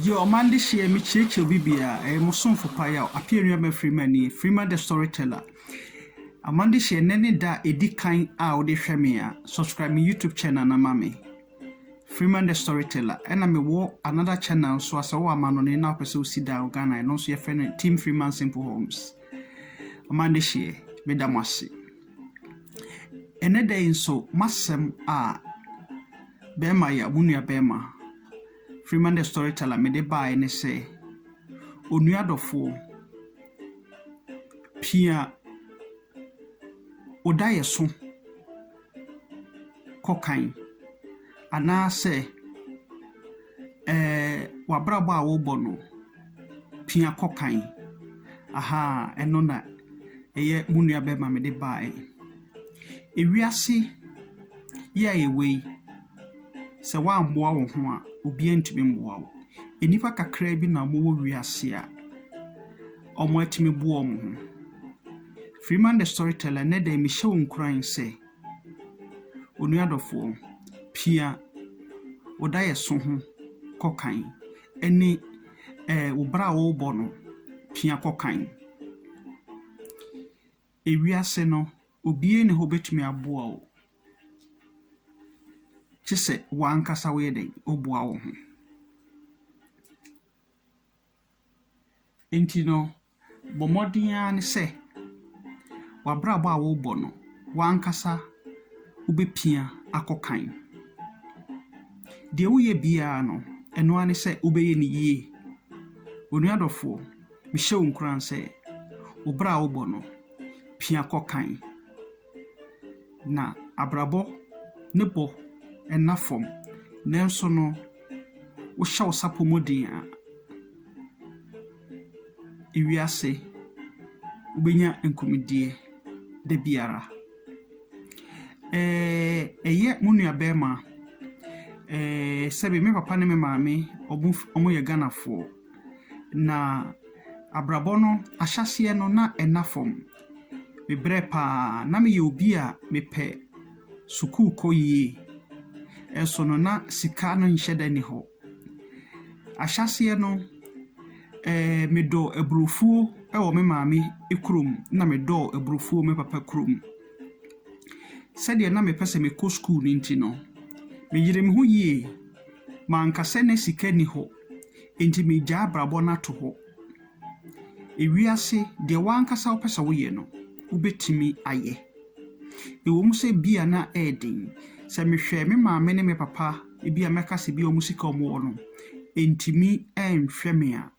Yo, ɔman dehyeɛ mekyerɛkyerɛ obi biaa ɛyɛ mo somfo pa yaw Apia Nuabɛn Freeman nie, Freeman the storyteller Ɔman dehyeɛ nnɛ ne da a ɛdi kan a wode hwɛ me a, subscribe me YouTube channel no ma me Freeman the storyteller Ɛna mewɔ another channel nso a sɛ wowɔ amanɔne na wopɛ sɛ wosi dan wɔ Ghana a, ɛno nso yɛfrɛ no Team Freeman Simple Homes Ɔman dehyeɛ, meda mo ase. Ɛnnɛ da yi nso, m'asɛm a bɛrima yɛ wo nua bɛrima, Freeman the Storyteller, mede baeɛ ne sɛ, onua dɔfoɔ, pia wo daeɛso kɔ kan. anaasɛ ɛɛ w'abrabɔ a wobɔ no pia kɔ kan. Ahaa, ɛno na ɛyɛ mo nua bɛrima mede baeɛ. Ewiase yi a yɛwɔ yi, sɛ woammoa wo ho a, obiara ntumi mmoa wo. Nnipa kakraa bi na wɔwɔ wiase a wɔatumi boa wɔn ho. Freeman the Storyteller, ɛnnɛ da yi mehyɛ wo nkuran sɛ, Onua dɔfoɔ, pia wo daeɛso ho kɔ kan ne ɛɛ wo bra a worebɔ no pia kɔ kan. Ewiase no, obiara nni hɔ a obetumi aboa wo, gye sɛ w'ankasa woyɛ dɛn, woboa wo ho. Enti no, Bɔ mmɔden ara ne sɛ w'abrabɔ a worebɔ no, w'ankasa wobɛpia akɔ kan. Deɛ woyɛ biara no, ɛno ara ne sɛ wobɛyɛ no yie. Onua dɔfoɔ, mehyɛ wo nkuran sɛ, wo bra a wobɔ no, pia kɔ kan. Na abrabɔ ne bɔ nna fam, nanso no wohyɛ wo sapɔ mu den a, ewiase wobɛnya nkunimdie da biara. Ɛyɛ mo nuabarima, sɛbe me papa ne me maame wɔyɛ Ghanafoɔ. Na abrabɔ no ahyɛaseɛ no na ɛna fam. Mebrɛ paa. Na meyɛ obi a mepɛ sukuu kɔ yie. Nso no na sika no nhyɛ da nni hɔ. Ahyɛaseɛ no, eh, medɔ aburofuo wɔ me maame kurom na medɔ aburofuo wɔ me papa kurom. Sɛdeɛ na mepɛ sɛ mekɔ sukuu no nti no, meyeree me ho yie. Manka sɛ na sika nni hɔ. Enti meegyaa abrabɔ no ato hɔ. Ewiase, deɛ w'ankasa wopɛ sɛ woyɛ no, wobɛtumi ayɛ. Ɛwom sɛ ebia na ɛyɛ den. Sɛ mehwɛ me maame ne me papa, ebia mɛka sɛ ebia wɔn sika a wɔwɔ no, ɛntumi nhwɛ me a,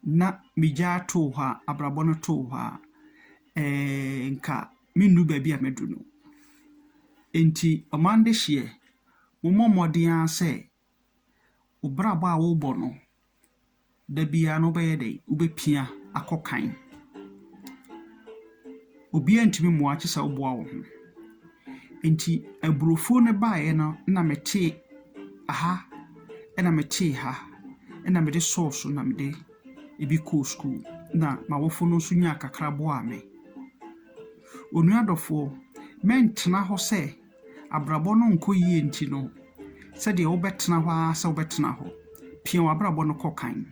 na megyaa too hɔ a, abrabɔ no too hɔ a, ɛɛ nka mennu baabi a madu no. Enti ɔman dehyeɛ, mommɔ mmɔden ara sɛ Wo brabɔ a wobɔ no, da biara no wobɛyɛ dɛn, wobɛpia akɔ kan. Obiara ntumi mmoa wo gye sɛ woboa wo ho. Enti aburofuo no baeɛ no na mete ha na mete ha na mede sɔɔ so na mede bi kɔɔ sukuu na m'awofo no nso nyaa kakra boaa me. Onua dɔfoɔ, mɛntena hɔ sɛ. Abrabɔ no nkɔ yie nti no, sɛdeɛ wobɛtena hɔ ara sɛ wobɛtena hɔ. Pia w'abrabɔ no kɔ kan,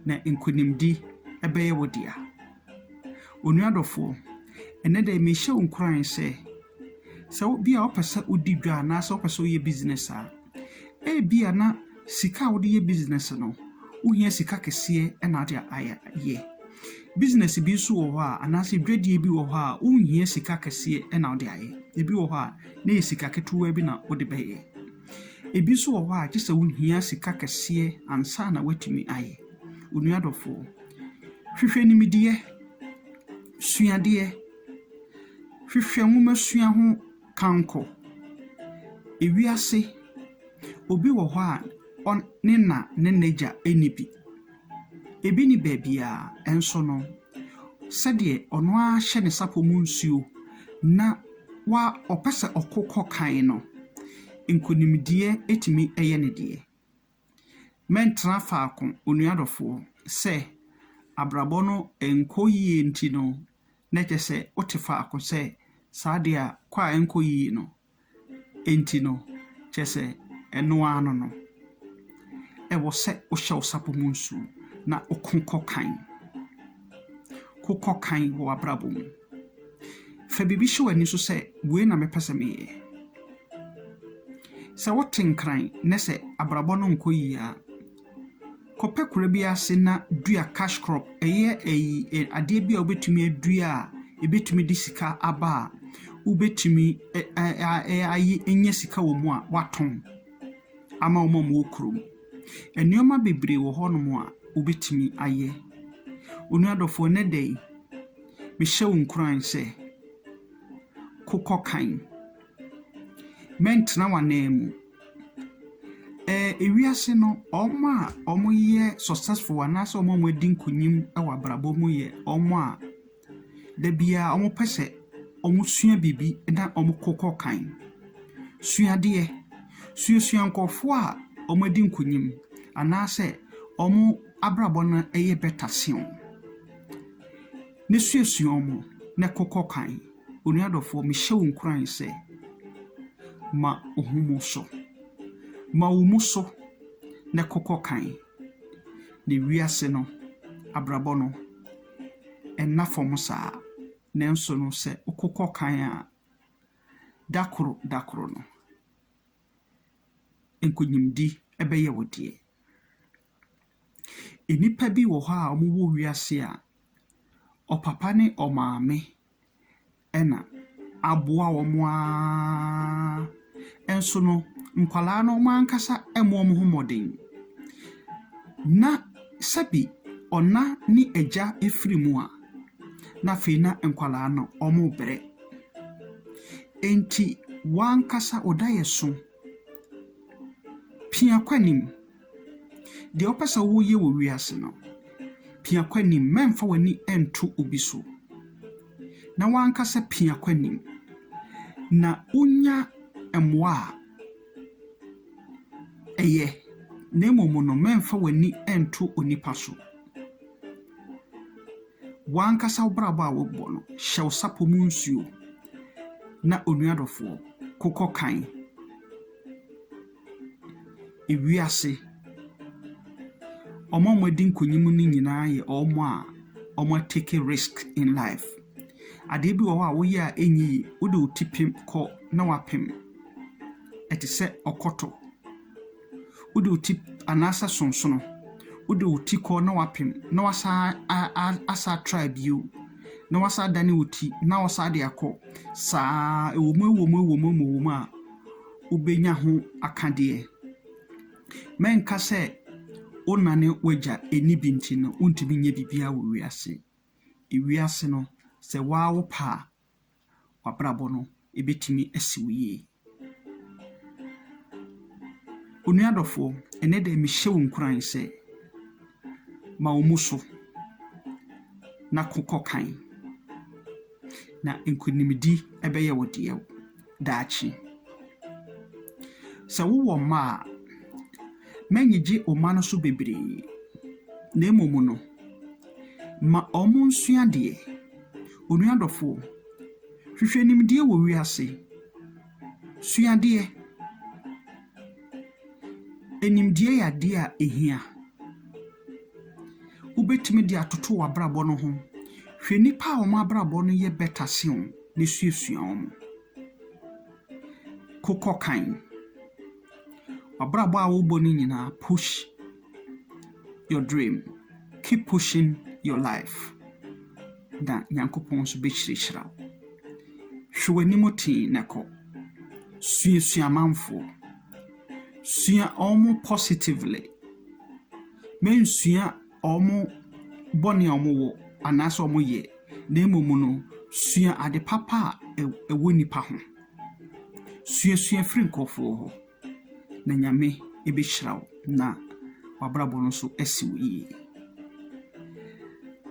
na nkonimdi bɛyɛ wo dea. Onua dɔfoɔ, ɛnnɛ da yi mehyɛ wo nkuran sɛ, sɛ wo bia wopɛ sɛ wodi dwa anaasɛ wopɛ sɛ woyɛ business a, ebia na. Sika a wode yɛ business no, wohia sika kɛseɛ na ade ayɛ. Business bi nso wɔ hɔ a anaasɛ dwadie bi wɔ hɔ a wonhia sika kɛseɛ na wode ayɛ. Ebi wɔ hɔ a na ɛyɛ sika ketewa bi na wode bɛyɛ. Ebi nso wɔ hɔ a gye sɛ wohia sika kɛseɛ ansa na woatumi ayɛ. Onua dɔfoɔ, hwehwɛ nimdeɛ, sua adeɛ, hwehwɛ nwomasua ho Kankɔ ewiase obi wɔ hɔ a ɔn ne na ne n'agya nni bi. Ebi nni baabiara, nso no, sɛdeɛ ɔno ara hyɛ ne sapɔ mu nsuo na wa ɔpɛ sɛ ɔko kɔ kan no, nkunimdie tumi yɛ ne deɛ. Mɛntena faako, onua dɔfoɔ, sɛ abrabɔ no nkɔ yie nti no na kyerɛ sɛ wote faako sɛ saa deɛ a kɔ a ɛnkɔ yie no nti no kyerɛ sɛ ɛno ara no no. Ɛwɔ sɛ wohyɛ wo sapɔ mu nsuo na woko kɔ kan. Wokɔ kan wɔ w'abrabɔ mu. Fa biribi hyɛ w'ani so sɛ, 'Wei na mɛpɛ sɛ meyɛ. Sɛ wote nkran na sɛ abrabɔ no nkɔ yie a, kɔpɛ kura bi ase na dua cash crop. Ɛyɛ ayi, ɛ, adeɛ bi a wobɛtumi adua a ɛbɛtumi de sika aba a wobɛtumi ɛ, ɛ, ɛ, ayɛ, anya sika wɔ mu a woatɔn ama wɔn a wɔwɔ kurom. Nnoɔma bebree wɔ hɔ nom a wobɛtumi ayɛ. Onua dɔfoɔ nnɛ da yi, mehyɛ wo nkuran sɛ, kokɔ kan. Mɛntena w'anan mu. Ɛɛ ewiase no, wɔn a wɔyɛ successful anaasɛ wɔn a wɔadi nkunim wɔ abrabɔ mu yɛ wɔn a. Da biara wɔpɛ sɛ wɔsua biribi na wɔkɔ kan. Sua adeɛ, suasua nkorɔfoɔ a wɔadi nkunim anaasɛ wɔn abrabɔ no yɛ better sen wo. Na suasua wɔn na kɔ kan. Onua dɔfoɔ mehyɛ wo nkuran sɛ, ma wo ho mu so. Ma wo mu so na kɔ kan. na wiase no abrabɔ no nna fam saa. Nanso no, sɛ wokokɔ kan a, da koro da koro no, nkonimdi bɛyɛ wo deɛ. Nnipa bi wɔ hɔ a wɔwɔ wiase a, ɔpapa ne ɔmaame na aboa wɔn ara. Nso no, nkwadaa no wɔn ankasa mmɔ wɔn ho mmɔden. Ná sɛbi ɔna ne agya firi mu a, na afei na nkwadaa no rebrɛ. Enti w'ankasa wo dayɛso pia kɔ anim. Deɛ wopɛ sɛ woyɛ wɔ wiase no, pia kɔ anim. Mɛmfa w'ani nto obi so, na w'ankasa pia kɔ anim. Na wonya mmoa a, ɛyɛ, na mmom no, mɛmfa w'ani nto onipa so. W'ankasa wo brabɔ a wobɔ no, hyɛ wo sapɔ mu nsuo, na onuadɔfoɔ, kokɔ kan. wiase. Wɔn a wɔadi nkunim no nyinaa yɛ wɔn a wɔatake risk in life. Adeɛ bi wɔ hɔ a woyɛ a ɛnyɛ yie, wode wo ti pem kɔ na woapem. Ɛte sɛ ɔkɔtɔ. Wode wo ti anaasɛ sonsono, wode wo ti kɔ na woapem na woasan a a asa try bio, na woasan adane wo ti na woasan de akɔ. Saa ara, ɛwom ɛwom ɛwom ɛwom a, wobɛnya ho akadeɛ. Mɛnka sɛ wo na ne w'agya nni bi nti no wontumi nyɛ biribiara wɔ wiase. Wiase no, sɛ wo ara wo pɛ a, w'abrabɔ no ɛbɛtumi asi wo yie. Onua dɔfoɔ, ɛnnɛ da yi mehyɛ wo nkuran sɛ ma wo mu so na ko kɔ kan, na nkonimdi bɛyɛ wo deɛ. daakye. Sɛ wowɔ mma a, mma nnyigye wo mma no so bebree, na mmom no, ma wɔnsua adeɛ. Onua dɔfoɔ, hwehwɛ nimdeɛ wɔ wiase. Sua adeɛ. Nimdeɛ yɛ adeɛ a ɛhia. Wobɛtumi de atoto w'abrabɔ no ho. Hwɛ nnipa a wɔn abrabɔ no yɛ better sen wo. no suasua wɔn. Kokɔ kan. W'abrabɔ a wobɔ no nyinaa push your dream, keep pushing your life na Nyankopɔn nso bɛhyirahyira wo. Hwɛ w'anim tee na kɔ. Suasua amanfoɔ. Sua wɔn positively. Mensua. wɔn bɔne a wɔwɔ anaasɛ wɔyɛ, na mmom no, sua ade papa a ɛwɔ nnipa ho. Suasua firi nkurɔfoɔ hɔ, na Nyame bɛhyira wo, na w'abrabɔ no nso asi wo yie.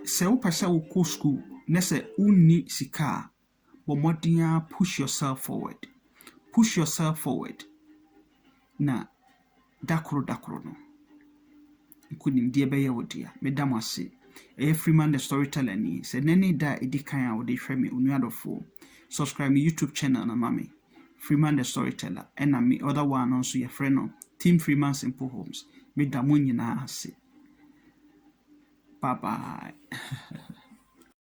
Sɛ wopɛ sɛ wokɔ sukuu na sɛ wonni sika a, bɔ mmɔden ara push yourself forward, push yourself forward na da koro da koro no, nkunimdie bɛyɛ wo dea. Meda mo ase. Ɛyɛ Freeman the Storyteller ni. Sɛ nnɛ ne da a ɛdi kan a wode hwɛ me onua dɔfoɔ, subscribe me YouTube channel no ma me. Freeman the Storyteller ɛna me other one no nso yɛfrɛ no Team Freeman Simple Homes. Meda mo nyinaa ase. Bye bye.